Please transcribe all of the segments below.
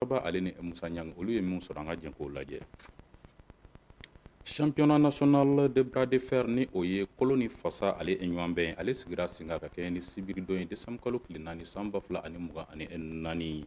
Kɔrɔba ale ni Musa Ɲang olu ye min sɔrɔ an ka jɛn k'o lajɛ championnat national de bras de fer ni o ye kolo ni fasa ale ɲɔgɔn bɛn ale sigira sen kan ka kɛɲɛ ni sibiridon ye décembre kalo tile naani san ba fila ani mugan ani naani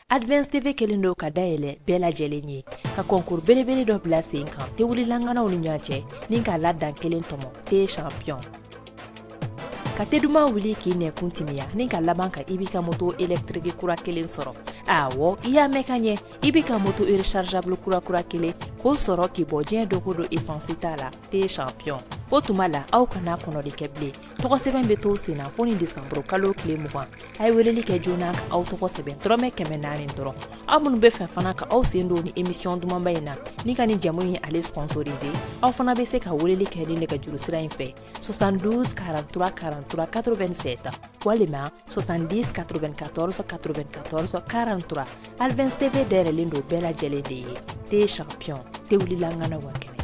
advance tv kɛlen don ka da yɛlɛ bɛɛ lajɛlen ye ka kɔnkuru belebele dɔ bila sen kan tewulila ŋanaw ni ɲɔgɔn cɛ ni k'a la dankelen tɔmɔ te champion ka te duman wuli k'i nɛkun timiya ni ka laban ka i b'i ka moto elektriki kura kelen sɔrɔ awɔ i y'a mɛn ka ɲɛ i b'i ka moto rechargeable kura kura kelen k'o sɔrɔ k'i bɔ diɲɛ don ko don esansi t'a la te champion o tuma la aw kana kɔnɔli kɛ bilen tɔgɔ sɛbɛn bɛ to sen na fo ni desanburu kalo tile mugan a ye weleli kɛ joona ka aw tɔgɔ sɛbɛn dɔrɔmɛ kɛmɛ naani dɔrɔn aw minnu bɛ fɛ fana ka aw sen don ni emisiyɔn dumanba in na ni ka ni jamu in ale sponsorize aw fana bɛ se ka weleli kɛ ni nɛgɛjuru sira in fɛ 72 43 43 87 walima 70 94 94 43 Advance TV dayɛlɛlen don bɛɛ lajɛlen de ye te champion te wulila ŋanaw ka kɛnɛ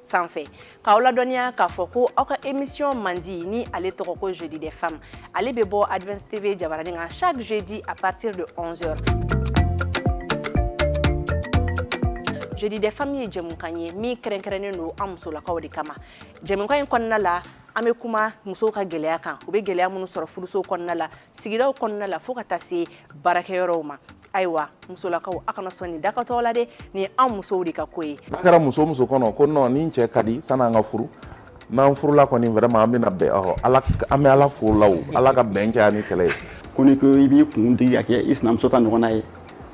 sanfɛ k'aw ladɔnniya k'a fɔ ko aw ka emisiyɔn mandi ni ale tɔgɔ ko jeudi des femmes ale bɛ bɔ advance tv jabaranin kan chaque jeudi à partir de 11 heures jeudi des femmes ye jɛmukan ye min kɛrɛnkɛrɛnnen don an musolakaw de kama jɛmukan in kɔnɔna la an bɛ kuma musow ka gɛlɛya kan u bɛ gɛlɛya minnu sɔrɔ furuso kɔnɔna la sigidaw kɔnɔna la fo ka taa se baarakɛyɔrɔw ma ayiwa musolakaw a kana sɔn nin dakatɔ la dɛ nin ye an musow de ka ko ye n'a kɛra muso muso kɔnɔ ko nɔn ni cɛ ka di sani an ka furu n'an furula kɔni vraiment an bɛna bɛn ɔhɔ ala an bɛ ala fo la o ala ka bɛn kɛ ani kɛlɛ ye ko ni ko i b'i kun digi ka kɛ i sinamuso ta ɲɔgɔnna ye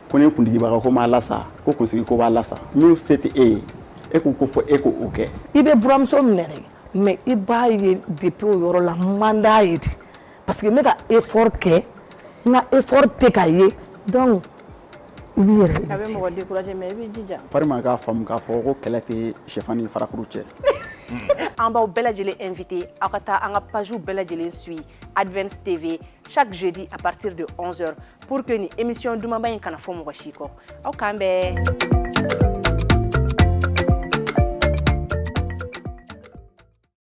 ko ni kundigibaga ko m'a lasa ko kunsigi ko b'a lasa min se tɛ e ye e k'u ko fɔ e ko o kɛ i bɛ buramuso minɛ dɛ mais i b'a ye depuis o yɔrɔ la man d'a ye de parce que n bɛ ka effort kɛ n ka effort tɛ ka ye donc i b'i yɛrɛ a bɛ limite mɔgɔ décourager mais i b'i jija parima k'a faamu k'a fɔ ko kɛlɛ tɛ sɛfan ni farakuru cɛ an b'aw bɛɛ lajɛlen invité aw ka taa an ka pagew bɛɛ lajɛlen suit advance tv chaque jeudi à partir de 11 heures pour que nin émission dumanba in kana fɔ mɔgɔ si kɔ aw k'an bɛn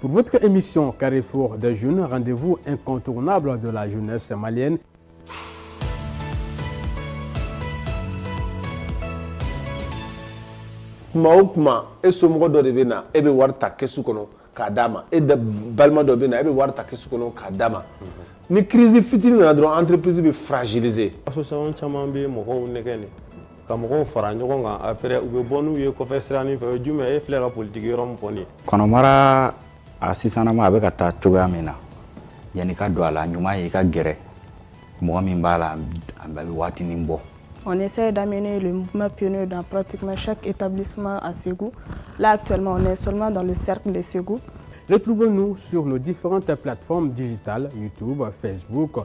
Pour votre émission Carrefour des jeunes, rendez-vous incontournable de la jeunesse malienne kuma o kuma e somɔgɔ dɔ de bɛ na e bɛ wari ta kɛsu kɔnɔ k'a d'a ma e balima dɔ de bɛ na e bɛ wari ta kɛsu kɔnɔ k'a d'a ma ni crise fitinin nana dɔrɔn entreprise bɛ fragiliser association caman bɛ mɔgɔw nɛgɛn de ka mɔgɔw fara ɲɔgɔn kan après u bɛ bɔ n'u ye kɔfɛ siranin fɛ o ye jumɛn e filɛ ka politiki yɔrɔ min fɔ nin ye kɔnɔmara a sisanama a bɛ ka taa cogoya min na yanni ka don a la ɲuman ye i ka gɛrɛ mɔgɔ min b'a la a bɛ waatinin bɔ On essaie d'amener le mouvement pionnier dans pratiquement chaque établissement à Ségou. Là, actuellement, on est seulement dans le cercle de Ségou. Retrouvez-nous sur nos différentes plateformes digitales, YouTube, Facebook,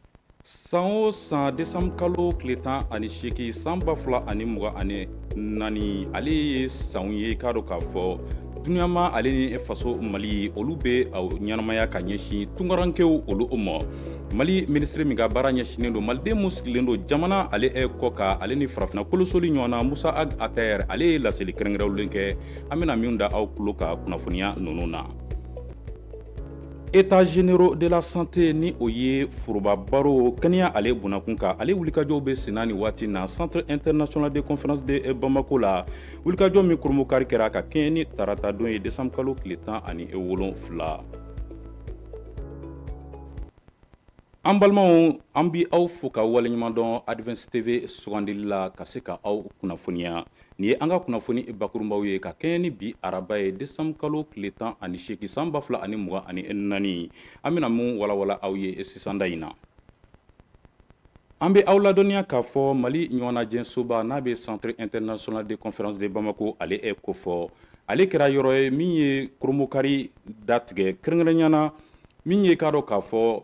san o san desanburu kalo tile tan ani seegin san ba fila ani mugan ani naani ale ye san ye k'a dɔn k'a fɔ duniyama ale ni faso mali olu bɛ ɲɛnamaya ka ɲɛsin tunkarankew olu ma mali minisiri min ka baara ɲɛsinnen don maliden mu sigilen don jamana ale kɔkan ale ni farafinna kolosoli ɲɔgɔn na musa ag attaher ale ye laseli kɛrɛnkɛrɛnlen kɛ an bɛna min da aw tulo kan kunnafoniya ninnu na états généraux de la santé ni o ye foroba baro kɛnɛya ale bonnakun kan ale wulikajɔw bɛ senna nin waati na centre international de conférence de bamako la wulikajɔ min kurunbonkari kɛra ka kɛɲɛ ni tarata don ye desanburu kalo tile tan ani wolonfila an balimaw an b'aw fo ka waleɲuman dɔn advance tv sugandili la ka se ka aw kunnafoniya nin ye an ka kunnafoni bakurunbaw ye ka kɛɲɛ ni bi araba ye desanburu kalo tile tan ani seegin san ba fila ani mugan ani naani an bɛna mun walawala aw ye sisanda in na an bɛ aw ladɔnniya k'a fɔ mali ɲɔgɔnnajɛsoba n'a bɛ centre international de conférence de bamako ale kofɔ ale kɛra yɔrɔ ye min ye kurunbonkari datigɛ kɛrɛnkɛrɛnyana min ye k'a dɔn k'a fɔ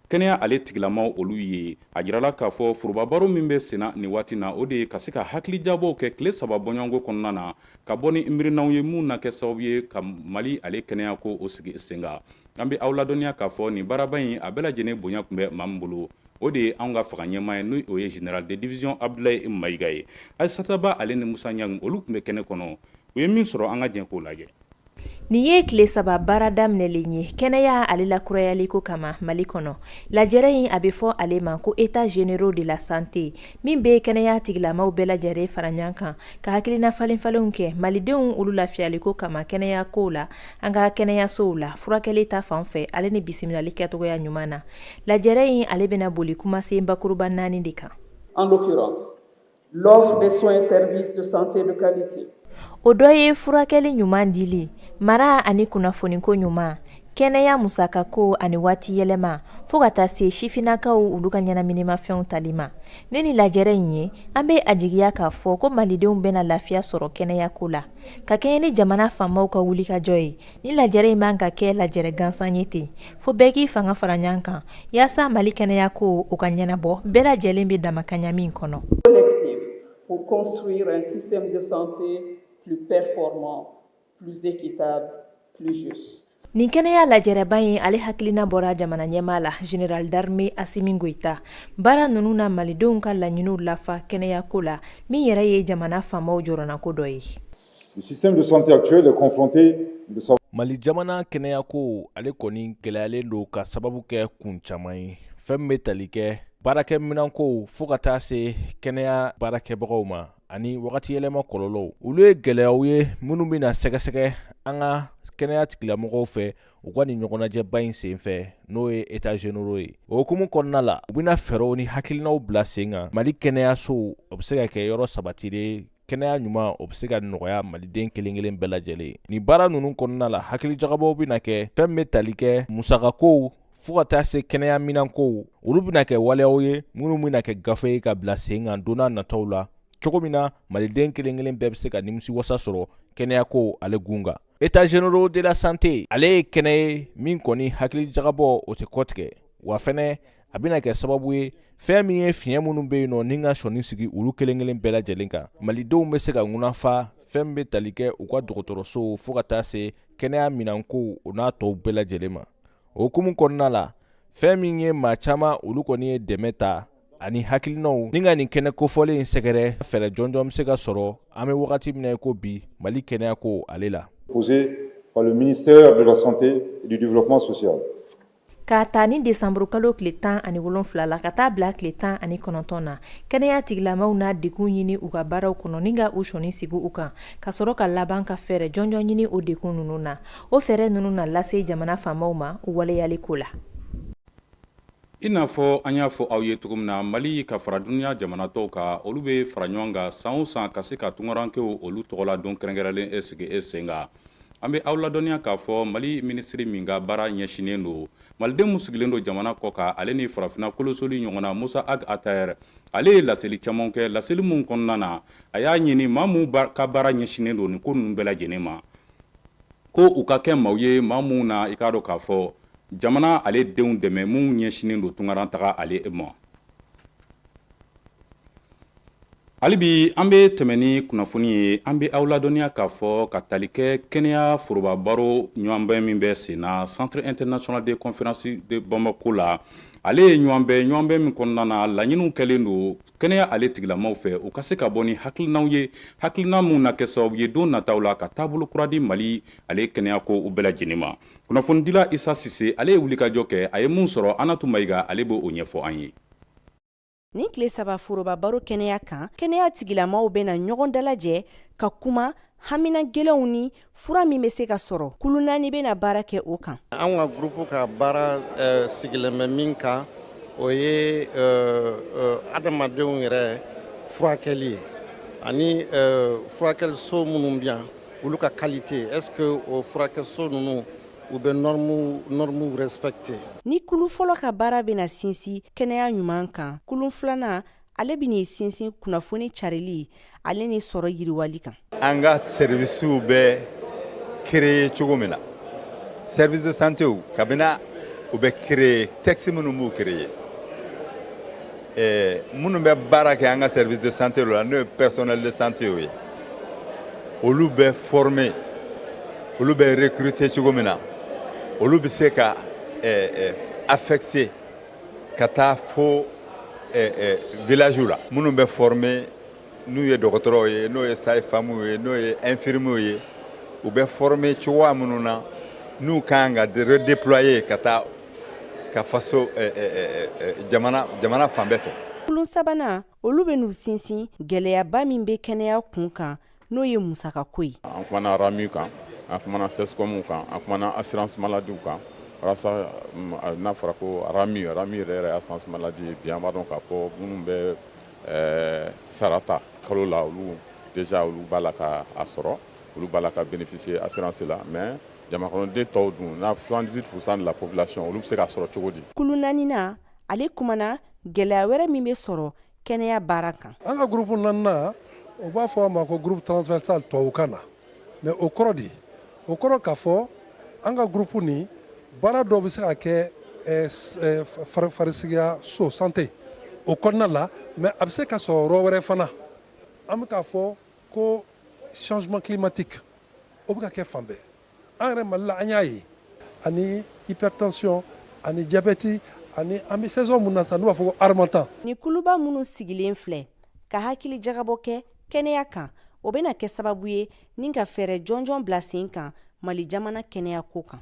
kɛnɛya ale tigilamaw olu ye a jirala k'a fɔ forobabaro min bɛ senna nin waati na o de ye ka se ka hakilijagabɔw kɛ tile saba bɔɲɔgɔnko kɔnɔna na ka bɔ ni miirinanw ye minnu na kɛ sababu ye ka mali ale kɛnɛya ko o sigi sen kan an bɛ aw ladɔnniya k'a fɔ nin baaraba in a bɛɛ lajɛlen bonya tun bɛ maa min bolo o de ye anw ka fanga ɲɛmaa ye n'o ye général de division abdulayi mayiga ye aisata ba ale ni musa ɲangi olu tun bɛ kɛnɛ kɔnɔ u ye min sɔrɔ an ka jɛn k'o lajɛ Nin ye tile saba baara daminɛlen ye kɛnɛya ale lakurayali ko kama mali kɔnɔ lajɛrɛ in a bɛ fɔ ale ma ko états généraux de la santé min bɛ kɛnɛya tigilamaw bɛɛ lajɛlen fara ɲɔgɔn kan ka hakilina falenfalenw kɛ malidenw olu lafiyali ko kama kɛnɛya ko la an ka kɛnɛyasow la furakɛli ta fan fɛ ale ni bisimilali kɛcogoya ɲuman na lajɛrɛ in ale bɛna boli kumasen bakuruba naani de kan L'offre de soins et services de santé de qualité. O dɔ ye furakɛli ɲuman dili, mara ani kunnafoniko ɲuman, kɛnɛya musakako ani waati yɛlɛma fo ka taa se sifinnakaw olu ka ɲɛnaminimafɛnw tali ma. Ni nin lajɛrɛ in ye, an bɛ a jigiya k'a fɔ ko Malidenw bɛna lafiya sɔrɔ kɛnɛyako la, ka kɛɲɛ ni jamana faamaw ka wulikajɔ ye. Ni lajɛrɛ in man ka kɛ lajɛrɛ gansan ye ten fo bɛɛ k'i fanga fara ɲɔgɔn kan yaasa mali kɛnɛyako o ka ɲɛnabɔ bɛɛ lajɛlen bɛ damakaɲa min kɔnɔ u ko nin kɛnɛya lajɛrɛba in ale hakilina bɔra jamana ɲɛmaa la Général d'armée Assimi Goïta baara ninnu na malidenw ka laɲiniw lafa kɛnɛyako la min yɛrɛ ye jamana faamaw jɔrɔnako dɔ ye Mali jamana kɛnɛyako ale kɔni gɛlɛyalen don ka sababu kɛ kun caman ye fɛn min bɛ tali kɛ baarakɛminanko fo ka taa se kɛnɛya baarakɛbagaw ma ani wagati yɛlɛma kɔlɔlɔw olu ye gɛlɛyaw ye minnu bɛna sɛgɛsɛgɛ an ka kɛnɛya tigilamɔgɔw fɛ u ka nin ɲɔgɔnnajɛba in senfɛ n'o ye états généraux ye o hukumu kɔnɔna la u bɛna fɛɛrɛw ni hakilinaw bila sen kan mali kɛnɛyasow o bɛ se ka kɛ yɔrɔ sabati kɛnɛya ɲuman o bɛ se ka nɔgɔya maliden kelen-kelen bɛɛ lajɛlen ye nin baara ninnu kɔnɔna la hakilijagabɔw bɛna kɛ fɛn bɛ tali kɛ musakakow fɔɔ ka taa se kɛnɛya minankow olu bɛna kɛ waleyaw ye minnu bɛna kɛ gafe ye ka bila sen kan don n'a nataw la cogo min na maliden kelen-kelen bɛɛ bɛ se ka nimisiwasa sɔrɔ kɛnɛyako ale kun kan états généraux de la santé ale ye kɛnɛ ye min kɔni hakilijagabɔ o tɛ kɔtigɛ wa fɛnɛ a bɛna kɛ sababu ye fɛɛn min ye fiɲɛ minnu bɛ yen nɔ ni ka sɔnin sigi olu kelen kelen bɛɛ lajɛlen kan malidenw bɛ se ka ŋunafa fɛn bɛ tali kɛ u ka dɔgɔtɔrɔsow fɔɔ ka taa se kɛnɛya minankow o n'a tɔw bɛɛ lajɛlen ma o hukumu kɔnɔna la fɛɛn min ye maa caman olu kɔni ye dɛmɛ ta ani hakilinaw ni ka nin kɛnɛ kofɔlen in sɛgɛrɛ fɛɛrɛ jɔnjɔn bɛ se ka sɔrɔ an bɛ wagati min na ko bi mali kɛnɛyako ale la posé par le ministère de la santé et du développement social K'a ta ni desanburukalo tile tan ani wolonfila la ka taa bila tile tan ani kɔnɔntɔn na kɛnɛya tigilamaaw na dekun ɲini u ka baaraw kɔnɔ ni ka u sɔnin sigi u kan ka sɔrɔ ka laban ka fɛɛrɛ jɔnjɔn ɲini o dekun ninnu na o fɛɛrɛ ninnu na lase jamana faamaw ma u waleyali ko la i n'a fɔ an y'a fɔ aw ye cogo min na mali ka fara duniya jamana tɔw kan olu bɛ fara ɲɔgɔn kan san o san ka se ka tunkarankew olu tɔgɔladon kɛrɛnkɛrɛnlen in sigi sen kan an bɛ aw ladɔnniya k'a fɔ mali minisiri min ka baara ɲɛsinnen don maliden minnu sigilen don jamana kɔkan ale ni farafina kolosoli ɲɔgɔnna Mossa Ag Attaher ale ye laseli caman kɛ laseli minnu kɔnɔna na a y'a ɲini maa minnu ka baara ɲɛsinnen don nin ko ninnu bɛɛ lajɛlen ma ko u ka kɛ maaw ye maa minnu na i k'a dɔn k'a fɔ jamana ale denw dɛmɛ minnu ɲɛsinnen don tunkaran taga ale ma hali bi an bɛ tɛmɛ ni kunnafoni ye an bɛ aw ladɔnniya k'a fɔ ka tali kɛ kɛnɛya foroba baro ɲɔgɔnbɛn min bɛ sen na centre international de conférence de bamako la ale ye ɲɔgɔnbɛn ɲɔgɔnbɛn min kɔnɔna na laɲiniw kɛlen don kɛnɛya ale tigilamaw fɛ u ka se ka bɔ ni hakilinaw ye hakilina minnu na kɛ sababu ye don nataw la ka taabolo kura di mali ale kɛnɛya kow bɛɛ lajɛlen ma kunnafonidila isa sise ale ye wulikajɔ kɛ a ye min sɔrɔ anatu mayiga ale b'o ɲɛfɔ an ye Nin tile saba foroba baro kɛnɛya kan kɛnɛya tigilamaw bɛna ɲɔgɔn dalajɛ ka kuma hamina gɛlɛnw ni fura min bɛ se ka sɔrɔ kulu naani bɛna baara kɛ o kan an ka groupe ka baara eh, sigilen bɛ min kan o ye eh, eh, adamadenw yɛrɛ furakɛli ye ani furakɛliso minnu bɛ yan olu ka qualité est-ce que o furakɛso ninnu u bɛ normes respecter ni kulu fɔlɔ ka baara bɛna sinsin kɛnɛya ɲuman kan kulu filanan ale bɛn'i sinsin kunnafoni carili ale ni sɔrɔ yiriwali kan an ka servicew bɛ créer cogo min na service de santé cabinetw bɛ créer texte minnu b'u créer ɛɛ minnu bɛ baara kɛ an ka service de santé la n'o ye personnel de santé ye olu bɛ former olu bɛ recruter cogo min na olu bɛ se ka ɛɛ ɛɛ affecter ka taa fo ɛɛ ɛɛ village la minnu bɛ former n'u ye dɔgɔtɔrɔw ye n'o ye sage femme ye n'o ye infirmiers ye u bɛ former cogoya minnu na n'u ka kan ka redéployer ka taa ka faso eh, eh, eh, jamana jamana fan bɛɛ fɛ kulu sabanan olu bɛn'u sinsin gɛlɛyaba min bɛ kɛnɛya kun kan n'o ye musaka ko ye an kumana RAMU kan an kumana CSCOM kan an kumana assurance maladie kan walasa mm, n'a fɔra ko RAMU RAMU yɛrɛ yɛrɛ assurance maladie bi an b'a dɔn k'a fɔ minnu bɛ sara ta kalo la olu déjà olu b'a la ka a sɔrɔ olu b'a la ka bénéficier assurance la mais Jamanakɔnɔden tɔw dun na soixante-dix-huit pour cent de la population olu bɛ se k'a sɔrɔ cogo di kulu naaninan ale kumana gɛlɛya wɛrɛ min bɛ sɔrɔ kɛnɛya baara kan an ka groupe naaninan u b'a fɔ a ma ko groupe transversal tubabukan na mais o kɔrɔ de o kɔrɔ k'a fɔ an ka groupe nin baara dɔ bɛ se ka kɛ farisigiya so santé o kɔnɔna la mais a bɛ se ka sɔrɔ yɔrɔ wɛrɛ fana an bɛ k' fɔ Ko changement climatique o bɛ ka kɛ fan bɛɛ, an yɛrɛ Mali la an y'a ye ani hypertension ani diabète ani an bɛ saison min na sisan n'u b'a fɔ ko harmattan. Ni kuluba minnu sigilen filɛ ka hakilijagabɔ kɛ kɛnɛya kan, o bɛna kɛ sababu ye ni ka fɛɛrɛ jɔnjɔn bila sen kan Mali jamana kɛnɛya ko kan.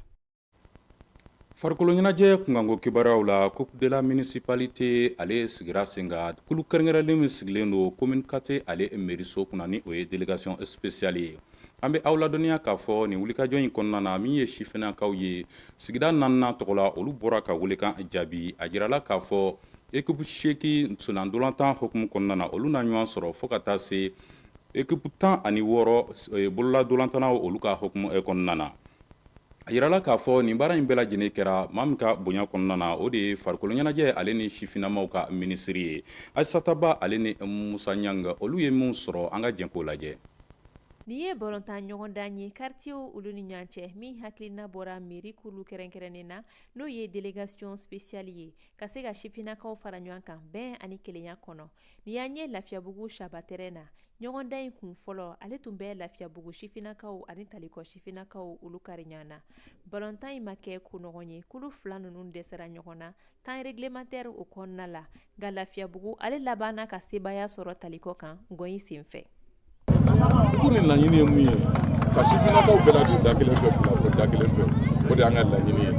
Farikolo ɲɛnajɛ kunkanko kibaruyaw la coupe de la municipalité ale sigira sen kan kulu kɛrɛnkɛrɛnlen min sigilen don commune quatre ale mairie so kunna ni o ye délégation spéciale ye an bɛ aw ladɔnniya k'a fɔ nin wulikajɔ in kɔnɔna na min ye sifinnakaw ye sigida naaninan tɔgɔ la olu bɔra ka weelekan jaabi a jirala k'a fɔ équipe seegin sen ntolatan hukumu kɔnɔna na olu na ɲɔgɔn sɔrɔ fo ka taa se équipe tan ani wɔɔrɔ bololantolatannaw olu ka hukumu kɔnɔna na a jirala k'a fɔ nin baara in bɛɛ lajɛlen kɛra maa min ka bonya kɔnɔna na o de ye farikolo ɲɛnajɛ ale ni sifinamaw ka minisiri ye Aisata Ba ale ni Musa Ɲanga olu ye min sɔrɔ an ka jɛ k'o lajɛ Nin ye balɔntan ɲɔgɔn dan ye kartiyew olu ni ɲɔgɔn cɛ min hakilina bɔra mairie kulu kɛrɛnkɛrɛnnen na n'o ye delegasiyon spesiyali ye ka se ka sifinnakaw fara ɲɔgɔn kan bɛn ani kelenya kɔnɔ Ni y'an ye lafiyabugu Shaba terrain na ɲɔgɔndan in kun fɔlɔ ale tun bɛ Lafiyabugu sifinnakaw ani Talikɔ sifinnakaw olu kari ɲɔgɔn na balɔntan in ma kɛ ko nɔgɔn ye kulu fila ninnu dɛsɛra ɲɔgɔn na temps réglementaire o kɔnɔna la nka lafiyabugu ale labanna ka sebaaya sɔrɔ talikɔ kan gɔn in senfɛ ko ni laɲini ye mun ye ka sifinnakaw bɛɛ ladon da kelen fɛ bila da kelen fɛ o de y'an ka laɲini ye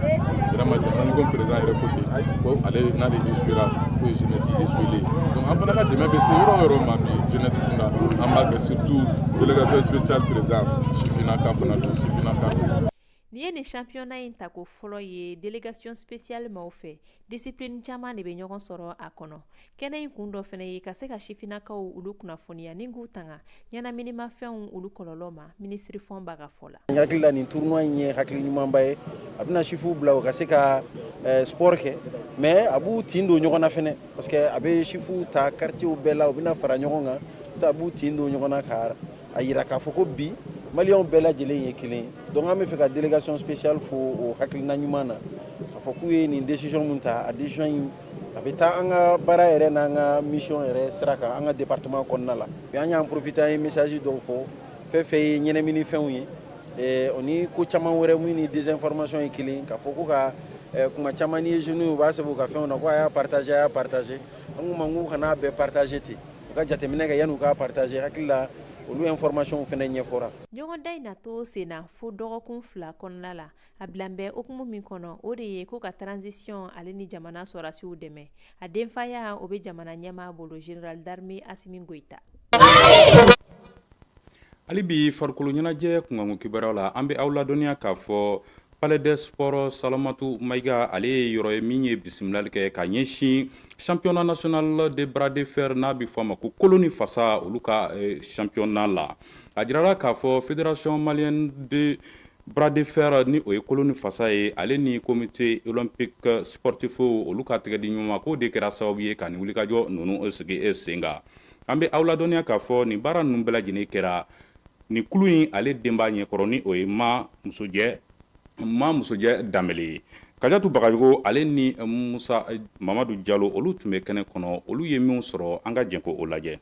vraiment jamana ɲɛmɔgɔ président yɛrɛ ko ten ko ale n'ale échouera k'o ye jeunesse échouelen donc an fana ka dɛmɛ bɛ se yɔrɔ o yɔrɔ ma bi jeunesse kunda an b'a kɛ surtout délégation spéciale président sifinnaka fana don sifinnaka don Nin ye nin championnat in tako fɔlɔ ye délégation spéciale maaw fɛ discipline caman de bɛ ɲɔgɔn sɔrɔ a kɔnɔ. Kɛnɛ in kun dɔ fɛnɛ ye ka se ka sifinnakaw olu kunnafoniya ni k'u tanga ɲɛnaminimafɛnw olu kɔlɔlɔ ma minisiri Fɔnba ka fɔ la. N hakili la nin tournoi in ye hakili ɲumanba ye, a bɛna sifinw bila u ka se ka eh, sport kɛ mais a b'u tin don ɲɔgɔn na fɛnɛ parce que a bɛ sifinw ta quartierw bɛɛ la u bɛna fara ɲɔgɔn kan, a b'u tin don ɲɔgɔn na ka a jira k'a fɔ ko bi Maliens bɛɛ lajɛlen ye kelen donc an b'a fɛ ka délégation spéciale fo o hakilina ɲuman na k'a fɔ k'u ye nin décision min ta a décision in a bɛ taa an ka baara yɛrɛ n'an ka mission yɛrɛ sira kan an ka département kɔnɔna la bi an y'an profiter an ye message dɔw fɔ fɛn fɛn ye ɲɛnɛminifɛnw ye o ni ko caman wɛrɛ mun ni désinformation ye kelen k'a fɔ ko ka kuma caman ni ye jeunes u b'a se u ka fɛnw na ko a y'a partager a y'a partager an k'u ma k'u kan'a bɛɛ partager ten u ka jateminɛ kɛ yanni u k'a partager hakili la olu informations fɛnɛ ɲɛfɔra. Ɲɔgɔndan in na to senna fo dɔgɔkun fila kɔnɔna la, a bilan bɛ hukumu min kɔnɔ, o de ye ko ka transition ale ni jamana sɔrasiw dɛmɛ. A denfaya, o bɛ jamana ɲɛmaa bolo, Général d'armée Assimi Goita. Hali bi farikolo ɲɛnajɛ kunkanko kibaruyaw la, an bɛ aw ladɔnniya k'a fɔ Palais des sports Salamatu Mayiga ale ye yɔrɔ ye min ye bisimilali kɛ ka ɲɛsin championnat national de bras de fer n'a bɛ fɔ a ma ko kolo ni fasa olu ka eh, championnat la. A jirala k'a fɔ fédération malienne de bras de fer ni o ye kolo ni fasa ye ale ni comité olympique sportif olu ka tɛgɛdiɲɔgɔnma k'o de kɛra sababu ye ka nin wulikajɔ ninnu sigi sen kan. an bɛ aw ladɔnniya k'a fɔ nin baara ninnu bɛɛ lajɛlen kɛra nin kulu in ale denba ɲɛkɔrɔ ni o ye ma musojɛ danbele ye kajatu bagayogo ale ni musa mamadu jalo olu tun bɛ kɛnɛ kɔnɔ olu ye minw sɔrɔ an ka jɛn k'o lajɛ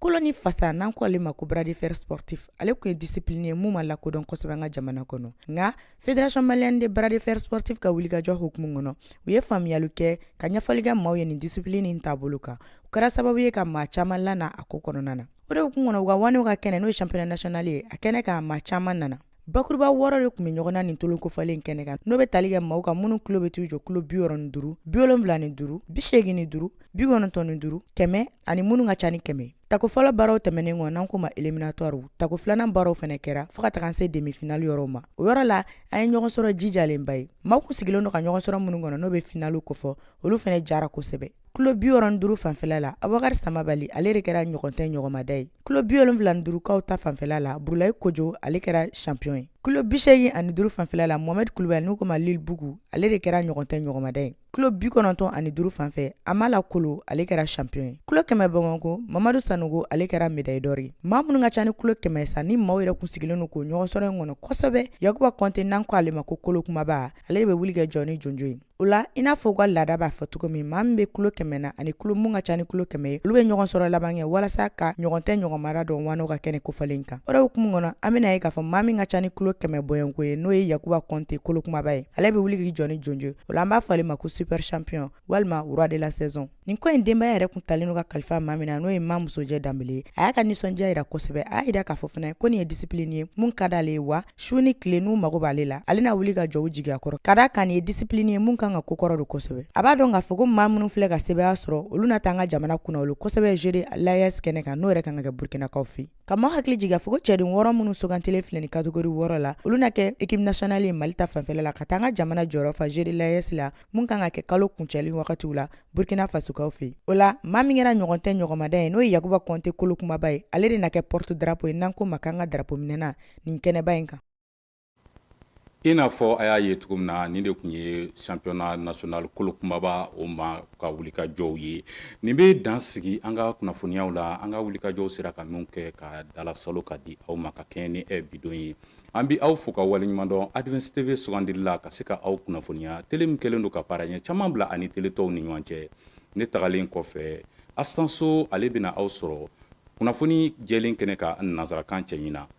kolo ni fasa n'an ko ale ma ko bras de fer sportif ale kun ye disipilini ye mun ma lakodɔn kosɛbɛ an ka jamana kɔnɔ nka Fédération malienne de bras de fer sportif ka wulikajɔ hukumu kɔnɔ u ye faamuyali kɛ ka ɲɛfɔli kɛ maaw ye nin disipilini in taabolo kan u kɛra sababu ye ka maa caman lana a ko kɔnɔna na o de hukumu kɔnɔ u ka waanew ka kɛnɛ n'o ye championnat national ye a kɛnɛ kan maa caman nana bakuruba wɔɔrɔ de kun bɛ ɲɔgɔn na nin tolon kofɔlen kɛnɛ kan n'o bɛ tali kɛ maaw kan minnu kilo bɛ t'u jɔ kilo bi wɔɔrɔ ni duuru bi wolonwula ni duuru bi seegin ni duuru bi kɔnɔntɔn ni duuru kɛmɛ ani minnu ka ca ni kɛmɛ Tako fɔlɔ baaraw tɛmɛnen kɔ n'an ko ma éliminatoire tako filanan baaraw fɛnɛ kɛra fo ka taga se demi-finale yɔrɔ ma o yɔrɔ la an ye ɲɔgɔn sɔrɔ jijalenba ye maa kun sigilen don ka ɲɔgɔn sɔrɔ minnu kɔnɔ n'o bɛ finali kofɔ olu fɛnɛ jara kosɛbɛ kilo bi wɔɔrɔ ni duuru fanfɛla la abubakari samabali ale de kɛra ɲɔgɔn tɛ ɲɔgɔnmada ye kilo bi wolonwula ni duurukaw ta fanfɛla la burulayi kojɔ ale kɛra champion ye kilo bi seegin ani duuru fanfɛla la mohamɛdi kulubali n'u ko ma libugu ale de kɛra ɲɔgɔn tɛ ɲɔgɔnmada ye kilo bi kɔnɔntɔn ani duru fan fɛ amala kolo ale kɛra champion ye kilo kɛmɛ bamakɔ mamadu sanogo ale kɛra médaille d'or ye maa minnu ka ca ni kilo kɛmɛ sa ni maaw yɛrɛ kun sigilen don k'o ɲɔgɔnsɔrɔ in kɔnɔ kosɛbɛ yakuba kɔnte n'an ko ale ma ko kolo kumaba ale de bɛ wuli k'i jɔ ni jonjo ye o la i n'a fɔ u ka laada b'a fɔ cogo min maa min bɛ kilo kɛmɛ na ani kilo mun ka ca ni kilo kɛmɛ ye olu bɛ ɲɔgɔn sɔrɔ laban kɛ walasa ka ɲɔgɔn tɛ ɲɔgɔnmada dɔn waanew ka kɛnɛ kofɔlen kan o de hukumu kɔnɔ an bɛna a ye k'a fɔ maa min ka ca ni kilo kɛmɛ bɔɲɔnko ye n'o ye yakuba kɔnte kolo kumaba ye ale bɛ wuli k'i jɔ ni jonjo ye o la an b'a fɔ ale ma ko super champion walima roi de la saison nin ko in denbaya yɛrɛ kun talen don ka kalifa maa min na n'o ye ma musojɛ danbele ye a y'a ka nisɔndiya yira kosɛbɛ a y'a yira k'a fɔ fana ko nin ye disipilini ye mun ka d'ale ye wa su ni tile n'u mago b'ale la ale na wuli ka jɔ u jigiya kɔrɔ ka d'a kan nin ye disipilini ye mun kan ka kɔkɔrɔdon kosɛbɛ a b'a dɔn k'a fɔ ko maa minnu filɛ ka sebaaya sɔrɔ olu na taa an ka jamana kunnawolo kosɛbɛ jeux de l'AES kɛnɛ kan n'o yɛrɛ kan ka kɛ burkinakaw fɛ ka maa hakili jigin k'a fɔ ko cɛden wɔɔrɔ minnu sugantilen filɛ nin catégorie wɔɔrɔ la olu na kɛ équipe nationale ye mali ta fanfɛla la ka taa an ka jamana jɔyɔrɔ fa jeux de l'AES la mun kan ka kɛ kalo kuncɛli wagatiw la burkina fasokaw fɛ o la maa min kɛra ɲɔgɔn tɛ ɲɔgɔnmada ye n'o ye yakuba kɔnte kolo kumaba ye ale de na kɛ porte-drapeau ye n'an ko ma k'an ka darapo minɛna nin kɛnɛba in kan I n'a fɔ a y'a ye cogo min na nin de tun ye championnat national kolo kunbaba o ma ka wulikajɔw ye nin bɛ dan sigi an ka kunnafoniyaw la an ka wulikajɔw sera ka min kɛ ka dalasalo ka di aw ma ka kɛɲɛ ni bi don ye an bɛ aw fo ka waleɲumandɔn Advance TV sugandili la ka se ka aw kunnafoniya tele min kɛlen don ka baara ɲɛ caman bila a ni tele tɔw ni ɲɔgɔn cɛ ne tagalen kɔfɛ asanso ale bɛna aw sɔrɔ kunnafoni jɛlen kɛnɛ kan nanzarakan cɛɲin